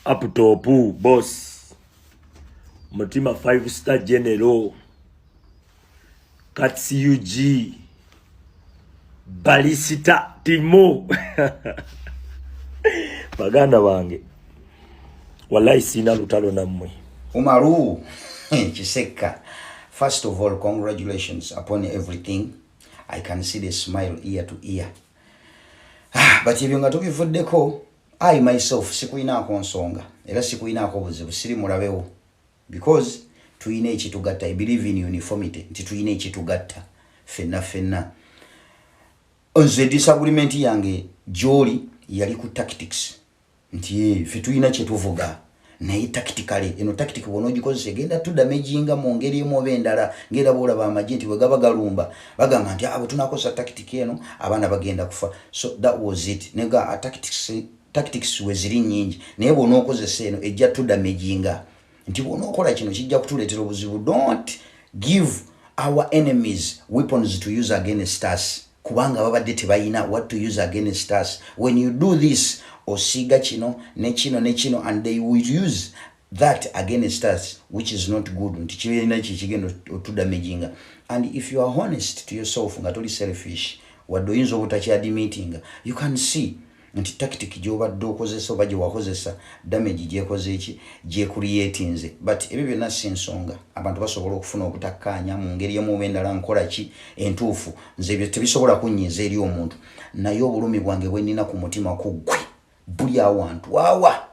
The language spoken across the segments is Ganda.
Aptopu boss mutima five star general katsug balisita timo baganda bange wallahi sina lutalo nammwe umaru kisekka first of all congratulations upon everything i can see the smile ear to ear ah, but ebyo nga tubivuddeko I myself sikuyinaako nsonga era sikuyinaako buzibu siri mulabewo because tuyina ekitugatta i believe in uniformity nti tuyina ekitugatta fenna fenna nze disagreement yange gyoli yali ku tactics nti fe tuyina kyetuvuga naye tactically eno tactic bwona ogikozesa egenda tu damaging mu ngeri emu oba endala ngera bwolaba amagye nti bwegaba galumba bagamba nti abo ah, tunakozesa tactic eno abaana bagenda kufa so that was it nega ah, tactics tactics weziri nyingi naye bwona okozesa eno ejja tu damaging nti bwona okola kino kijja kutuleetera obuzibu don't give our enemies weapons to use against us kubanga babadde tebayina what to use against us when you do this osiiga kino nekino nekino and they will use that against us which is not good nti kirina kyekigenda otudamaginga and if you are honest to yourself nga toli selfish wadde oyinza obutakyadimitinga you can see nti tactic gyobadde okozesa oba gyewakozesa damage gyekozeeki gyekuriyetinze but ebyo byonna si nsonga abantu basobola okufuna obutakkaanya mu ngeri emu oba endala nkola ki entuufu nze ebyo tebisobola kunnyiiza eri omuntu naye obulumi bwange bwennina ku mutima ku ggwe buli awantu wawa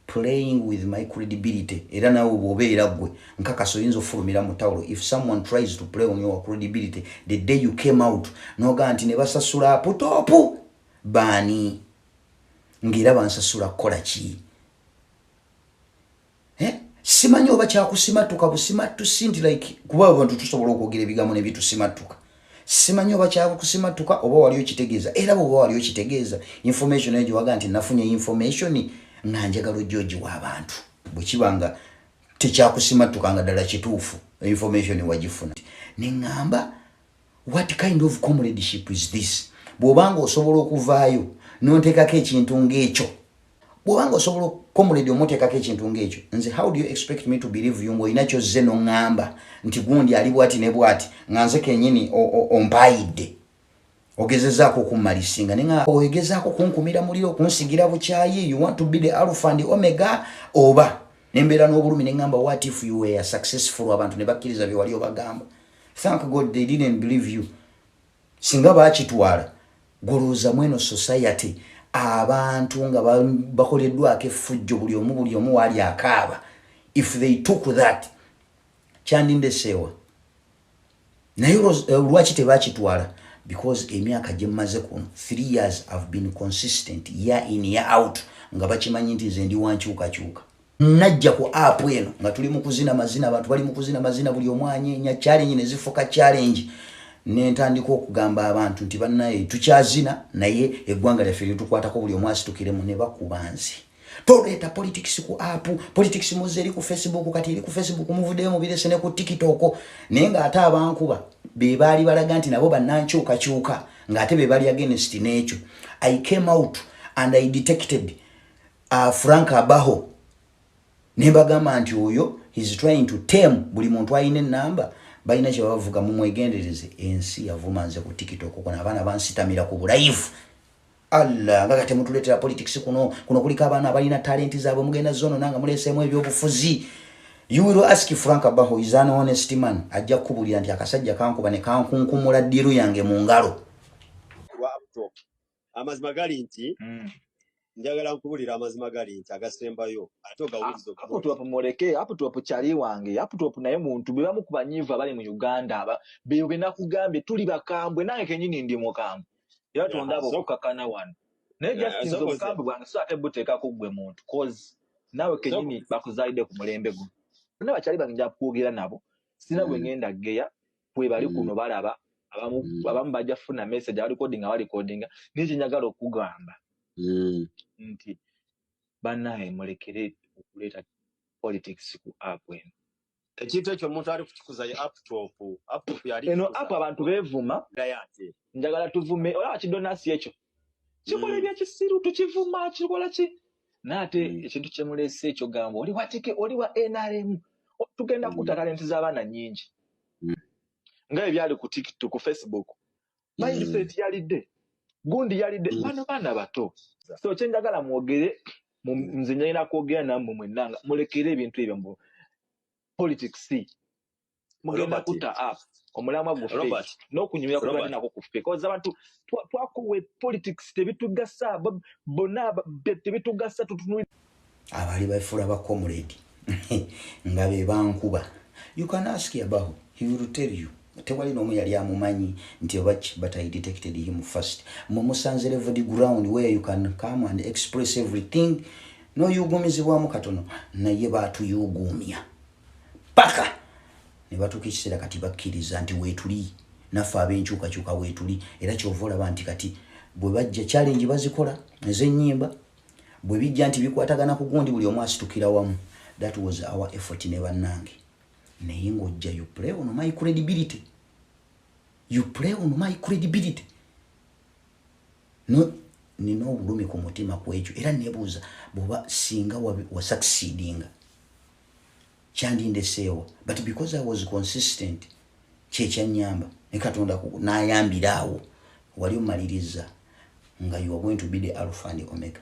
playing with my credibility era nawe bwobeera ggwe nkakasa oyinza okufulumira mu tawulo if someone tries to play on your credibility the day you came out nogaa nti ne basasula aputopu baani ng'era bansasula kukola ki eh? simanyi oba kyakusimattuka busimattusi nti like kuba abantu tusobola okwogera ebigambo ne bitusimattuka simanyi oba kyakusimattuka oba wali okitegeeza era bwoba wali okitegeeza information eyo gyewaga nti nafunye information nga njagala ojja ogiwa abantu bwe kiba nga tekyakusimattuka nga ddala kituufu information wagifuna ne ŋŋamba What kind of comradeship is this? Bwobanga osobola okuvaayo nontekako ekintu ng'ekyo bwobanga osobola comrade omutekako ekintu ng'ekyo nze how do you expect me to believe you ng'olina kyozze noŋŋamba nti gundi ali bwati ne bwati nga nze kenyini ompaayidde ogezezaako okummalisinga nenga ogezezaako okunkumira muliro okunsigira bukyayi you want to be the alpha and omega oba nembeera n'obulumi neŋŋamba what if you were successful abantu ne bakkiriza bye wali obagamba thank god they didn't believe you singa bakitwala golowooza mweno society abantu nga bakoleddwako effujjo buli omu buli omu waali akaaba if they took that kyandindeseewa naye eh, lwaki tebakitwala because emyaka gyemmaze kuno three years have been consistent year in year out nga bakimanyi nti nze ndi wankyukakyuka najja ku app eno nga tuli mukuzina mazina abantu bali mukuzina mazina buli omwanya enya challenge ne zifuka challenge nentandika okugamba abantu nti banaye tukyazina naye eggwanga lyaffe lyetukwatako buli omwasi tukiremu ne bakubanzi toleeta politics ku app politics muze eri ku facebook kati eri ku facebook muvudeyo mubirese ne ku tiktok naye nga ate abankuba be baali balaga nti nabo banankyukakyuka nga ate be bali against n'ekyo i came out and i detected uh, frank abaho nembagamba nti oyo he's trying to tem buli muntu alina enamba balina kyebabavuga mumwegendereze ensi yavuma nze ku tiktok kona abaana bansitamira ku bulayivu allah nga kati mutuletera politics kuno kuno kuliko abaana abalina talenti zaabwe mugenda zono nanga muleseemu ebyobufuzi you will ask frank abaho is an honest man ajja kukubulira nti akasajja kankuba ne kankunkumula ddiru yange mu ngalo amazima gali nti mm. njagala nkubulira amazima gali nti agasembayo ate ogawuliza aputop muleke aputop kyali wange aputop naye muntu bwe bamu ku banyiivu abali mu uganda aba beyo be nakugambye tuli bakambwe nange kenyini ndi mukambwe era tondaba okukakana wano naye justinze obukambwe bwange so ate buteeka ku ggwe muntu cause naawe kenyini bakuzaalidde ku mulembe guno bonna bakyali bange nja kwogera nabo sina gwe mm. ngenda geya kwebali kuno mm. balaba abamu mm. abamu bajja funa message abali coding abali coding naye kyenyagala okugamba mm. nti banaye mulekere okuleeta politics ku app eno ekintu ekyo omuntu ali kukikuza ye aptop aptop yali eno app abantu bevuma njagala tuvume ola kidonasi ekyo kikola mm. ebyakisiru tukivuma kikola ki naate mm. ekintu kyemulese ekyogamba oli watike oli wa nrm tugenda kukuta mm. talenti z'abaana nyingi nga ebyali ku tiktok ku facebook mindset yalidde gundi yalidde bano baana bato so kyenjagala mwogere nze nyalina kwogera nammwe mwennanga mulekere ebintu ebyo mbu politics mugenda kutta app omulamwa guffe n'okunyumira kubadde nako kuffe koza abantu twakowa politics tebitugasa bonna tebitugasa tutunuli abali bafula ba comrade nga be bankuba you can ask about he will tell you tewali n'omu yali amumanyi nti obaki but i detected him first mwe musanze level the ground where you can come and express everything noyugumizibwamu katono naye batuyuguumya paka ne batuuka ekiseera kati bakkiriza nti weetuli naffe ab'enkyukakyuka weetuli era kyova olaba nti kati bwe bajja challenge bazikola ez'ennyimba bwe bijja nti bikwatagana ku gundi buli omu asitukira wamu that was our effort ne bannange naye ng'ojja you play on my credibility you play on my credibility no nina obulumi ku mutima kwekyo era nebuuza bwoba singa wasucceedinga kyandindeseewo but because i was consistent kyekyanyamba ne katonda nayambira awo wali omaliriza nga you are going to be the alpha and omega